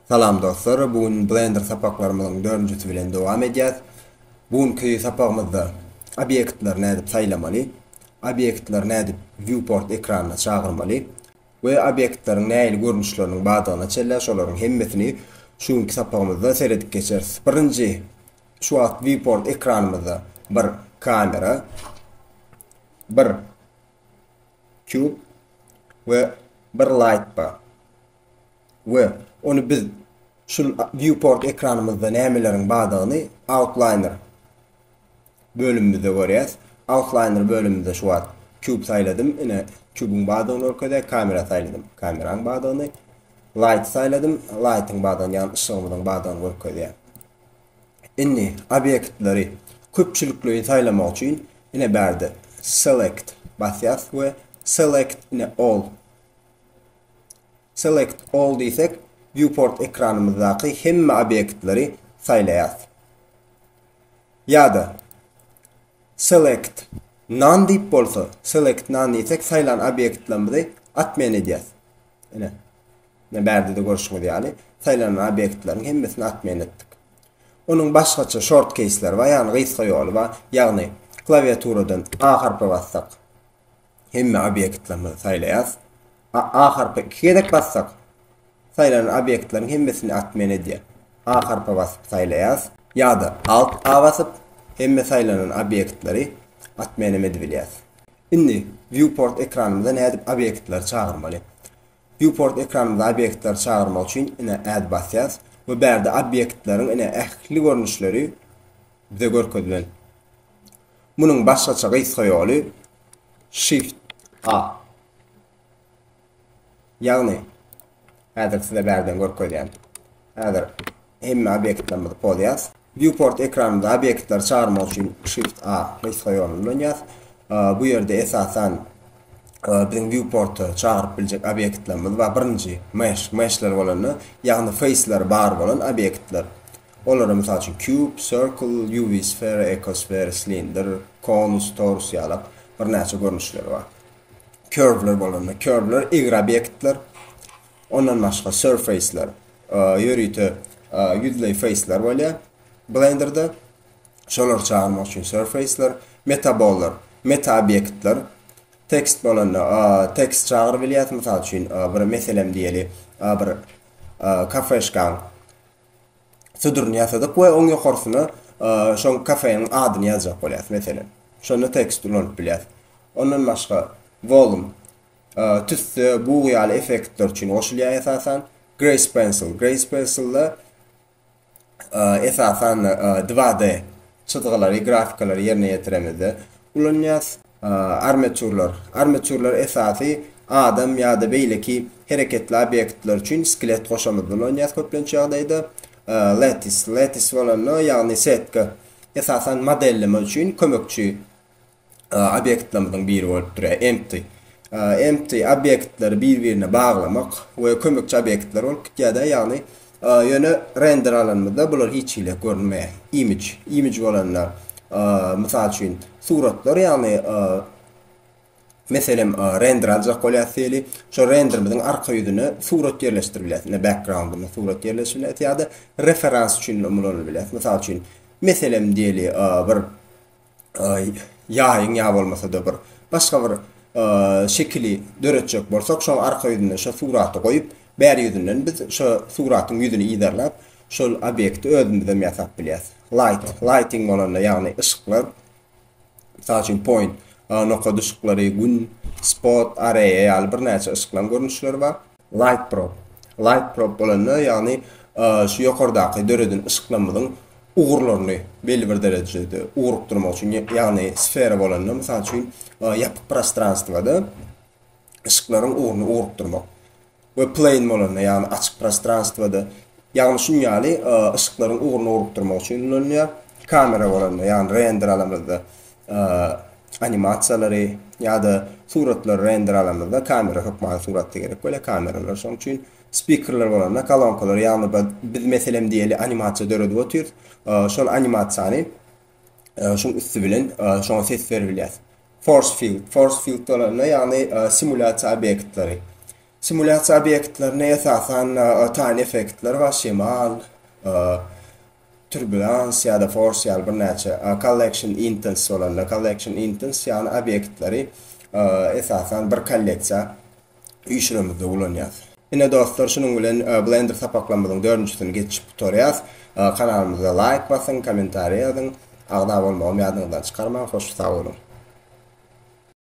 Salam dostlar, bu gün Blender sapaklarymyzyň dördünjisi bilen dowam edýäs. Bu günki sapagymyzda obýektleri nädip saýlamaly, obýektleri nädip Viewport ekranyna çagyrmaly we obýektleriň nähili görnüşleriniň bardygyna çenlä şolaryň hemmesini şu günki sapagymyzda seredip geçeris. Birinji şu wagt Viewport ekranymyzda bir kamera, bir cube we bir light bar. we ony biz şul Viewport ekranymyzda nämeleriň bardygyny Outliner bölümimizde görýäs. Outliner bölümimizde şu wagt Cube saýladym, ine Cube-yň bardygyny görkezýär, Camera saýladym, Camera-yň bardygyny, Light saýladym, Light-yň bardygyny, ýagny yşygymyzyň bardygyny görkezýär. Indi obýektleri köpçülikleýin saýlamak üçin ine bärde Select basýas we Select ine All Select All diýsek, Viewport ekranymyzdaky hemme obýektleri saýlaýarys. Ýa-da Select None diýip bolsa, Select None diýsek, saýlan obýektlerimizi atmen edýäris. Ine, ine bärde-de görşüňiz ýaly, saýlanan obýektleriň hemmesini atmen etdik. Onuň başgaça shortkeýsleri bar, ýagny gysga ýoly bar. Ýagny, klawiaturadan A harpy bassak, Hemme obýektlerimizi saýlaýas. A A harpa iki gezek bassak, saýlanan obýektleriň hemmesini atmen edýär. A harpa basyp saýlaýas. Ýa-da Alt A basyp, hemme saýlanan obýektleri atmen hem edibilýär. Indi Viewport ekranymyza nädip obýektleri çagyrmaly? Viewport ekranymyza obýektleri çagyrmak üçin ine Add basýas we bärde obýektleriň ine ähli görnüşleri bize görkezilen. Munuň başgaça gysga ýoly Shift A. Ýagny, häzir size bärden görkezýän. Häzir hemme obýektlerimizi pozýas. Viewport ekranynda obýektleri çagyrmak üçin Shift A gysga ýoluny ulanýas. Bu ýerde esasan biziň viewporta çagyryp biljek obýektlerimiz bar. Birinji mesh, meshler bolanda, ýagny feýsleri bar bolan obýektler. Olara, mysal üçin, kýub, sirkl, UV sfera, ekosfera, slindr, konus, torus ýalak birnäçe görnüşleri bar. Körwler bolanda, körwler egri obýektler, ondan başga surfaceler, ýörite ýüzleý feýsler bolýar Blenderda. Şolary çagyrmak üçin surfaceler, metabollar, meta obýektler, tekst bolanda, tekst çagyryp bilýäs, mysal üçin, bir meselem diýeli, bir kafeşkaň Suduryny ýasadyk we oň ýokarsyna şoň kafeniň adyny ýazjak bolýas meselen. Şonda tekst ulanyp bilýäs. Ondan başga volum tüsse, bug ýaly effektler üçin goşulýar esasan. Grace pencil, grace pencil-de esasan 2D Çyzgylary, grafikalary ýerine ýetiremizde ulanýas. Armeçurlar. Armeçurlar esasy adam ýa-da beýleki hereketli obýektler üçin skelet goşamyzda ulanýas köplenç ýagdaýda. Letis. Letis bolanda, ýagny setka esasan modelleme üçin kömekçi obýektlerimiziň biri bolup durýar, empty. Empty obýektleri bir-birine baglamak we kömekçi obýektler bolup gitýär-de, ýagny ýöne render alanymyzda bular hiç hili görünmeýär. Image, image bolanda, mysal üçin, suratlar, ýagny, meselem, render aljak bolýarys diýeli, şol renderimiziň arka ýüzüne surat ýerleşdirip bilýäris, ine, background-yna surat ýerleşdirip bilýäris ýa-da referans üçin-de ulanylp bilýär. Mysal üçin, meselem diýeli, bir ýaýyň ýa bolmasa-da bir başga bir şekili döretjek bolsak, şoň arka ýüzünde şo suraty goýup, bäri ýüzünden biz şo suratyň ýüzüni yzarlap, şol obýekti özümizem ýasap bilýäs. Light, lighting bolanda, ýagny yşyklar, mysal üçin point, nokat yşyklary, gün, spot, array ýaly birnäçe yşyklaryň görnüşleri bar. Light probe. Light probe bolanda, ýagny şu ýokardaky döreden yşyklarymyzyň ugurlaryny belli bir derejede ugrukdyrmak üçin, ýagny sfera bolanda, mysal üçin, ýapyk prostranstwada yşyklaryň ugruny ugrukdyrmak we plane bolanda, ýagny açyk prostranstwada, ýagny şunuň ýaly yşyklaryň ugruny ugrukdyrmak üçin ulanylýar. Kamera bolanda, ýagny render alamyzda, animasiýalary ýa-da suratlary render alamyzda kamera hökmany suratda gerek bolýar, kameralar şoň üçin spikerler bolanda kolonkalar ýagny biz meselem diýeli animasiýa döredip otyrys, şol animasiýany şuň üsti bilen şoňa ses berip bilýäs. Force field, force field bolanda ýagny simulýasiýa obýektleri. Simulýasiýa obýektlerinde esasan tan effektler bar, şemal, Turbulence ýa-da Force ýaly birnäçe Collection Intents bolanda, Collection Intents ýagny obýektleri esasan bir kolleksiýa üýşüremizde ulanýas. Ine dostlar şunuň bilen Blender sapaklarymyzyň dördünjisini geçip gutarýas. Kanalymyza laýk basyň, kommentariýa ýazyň, agza bolmagam ýadyňyzdan çykarmaň, hoş sag boluň.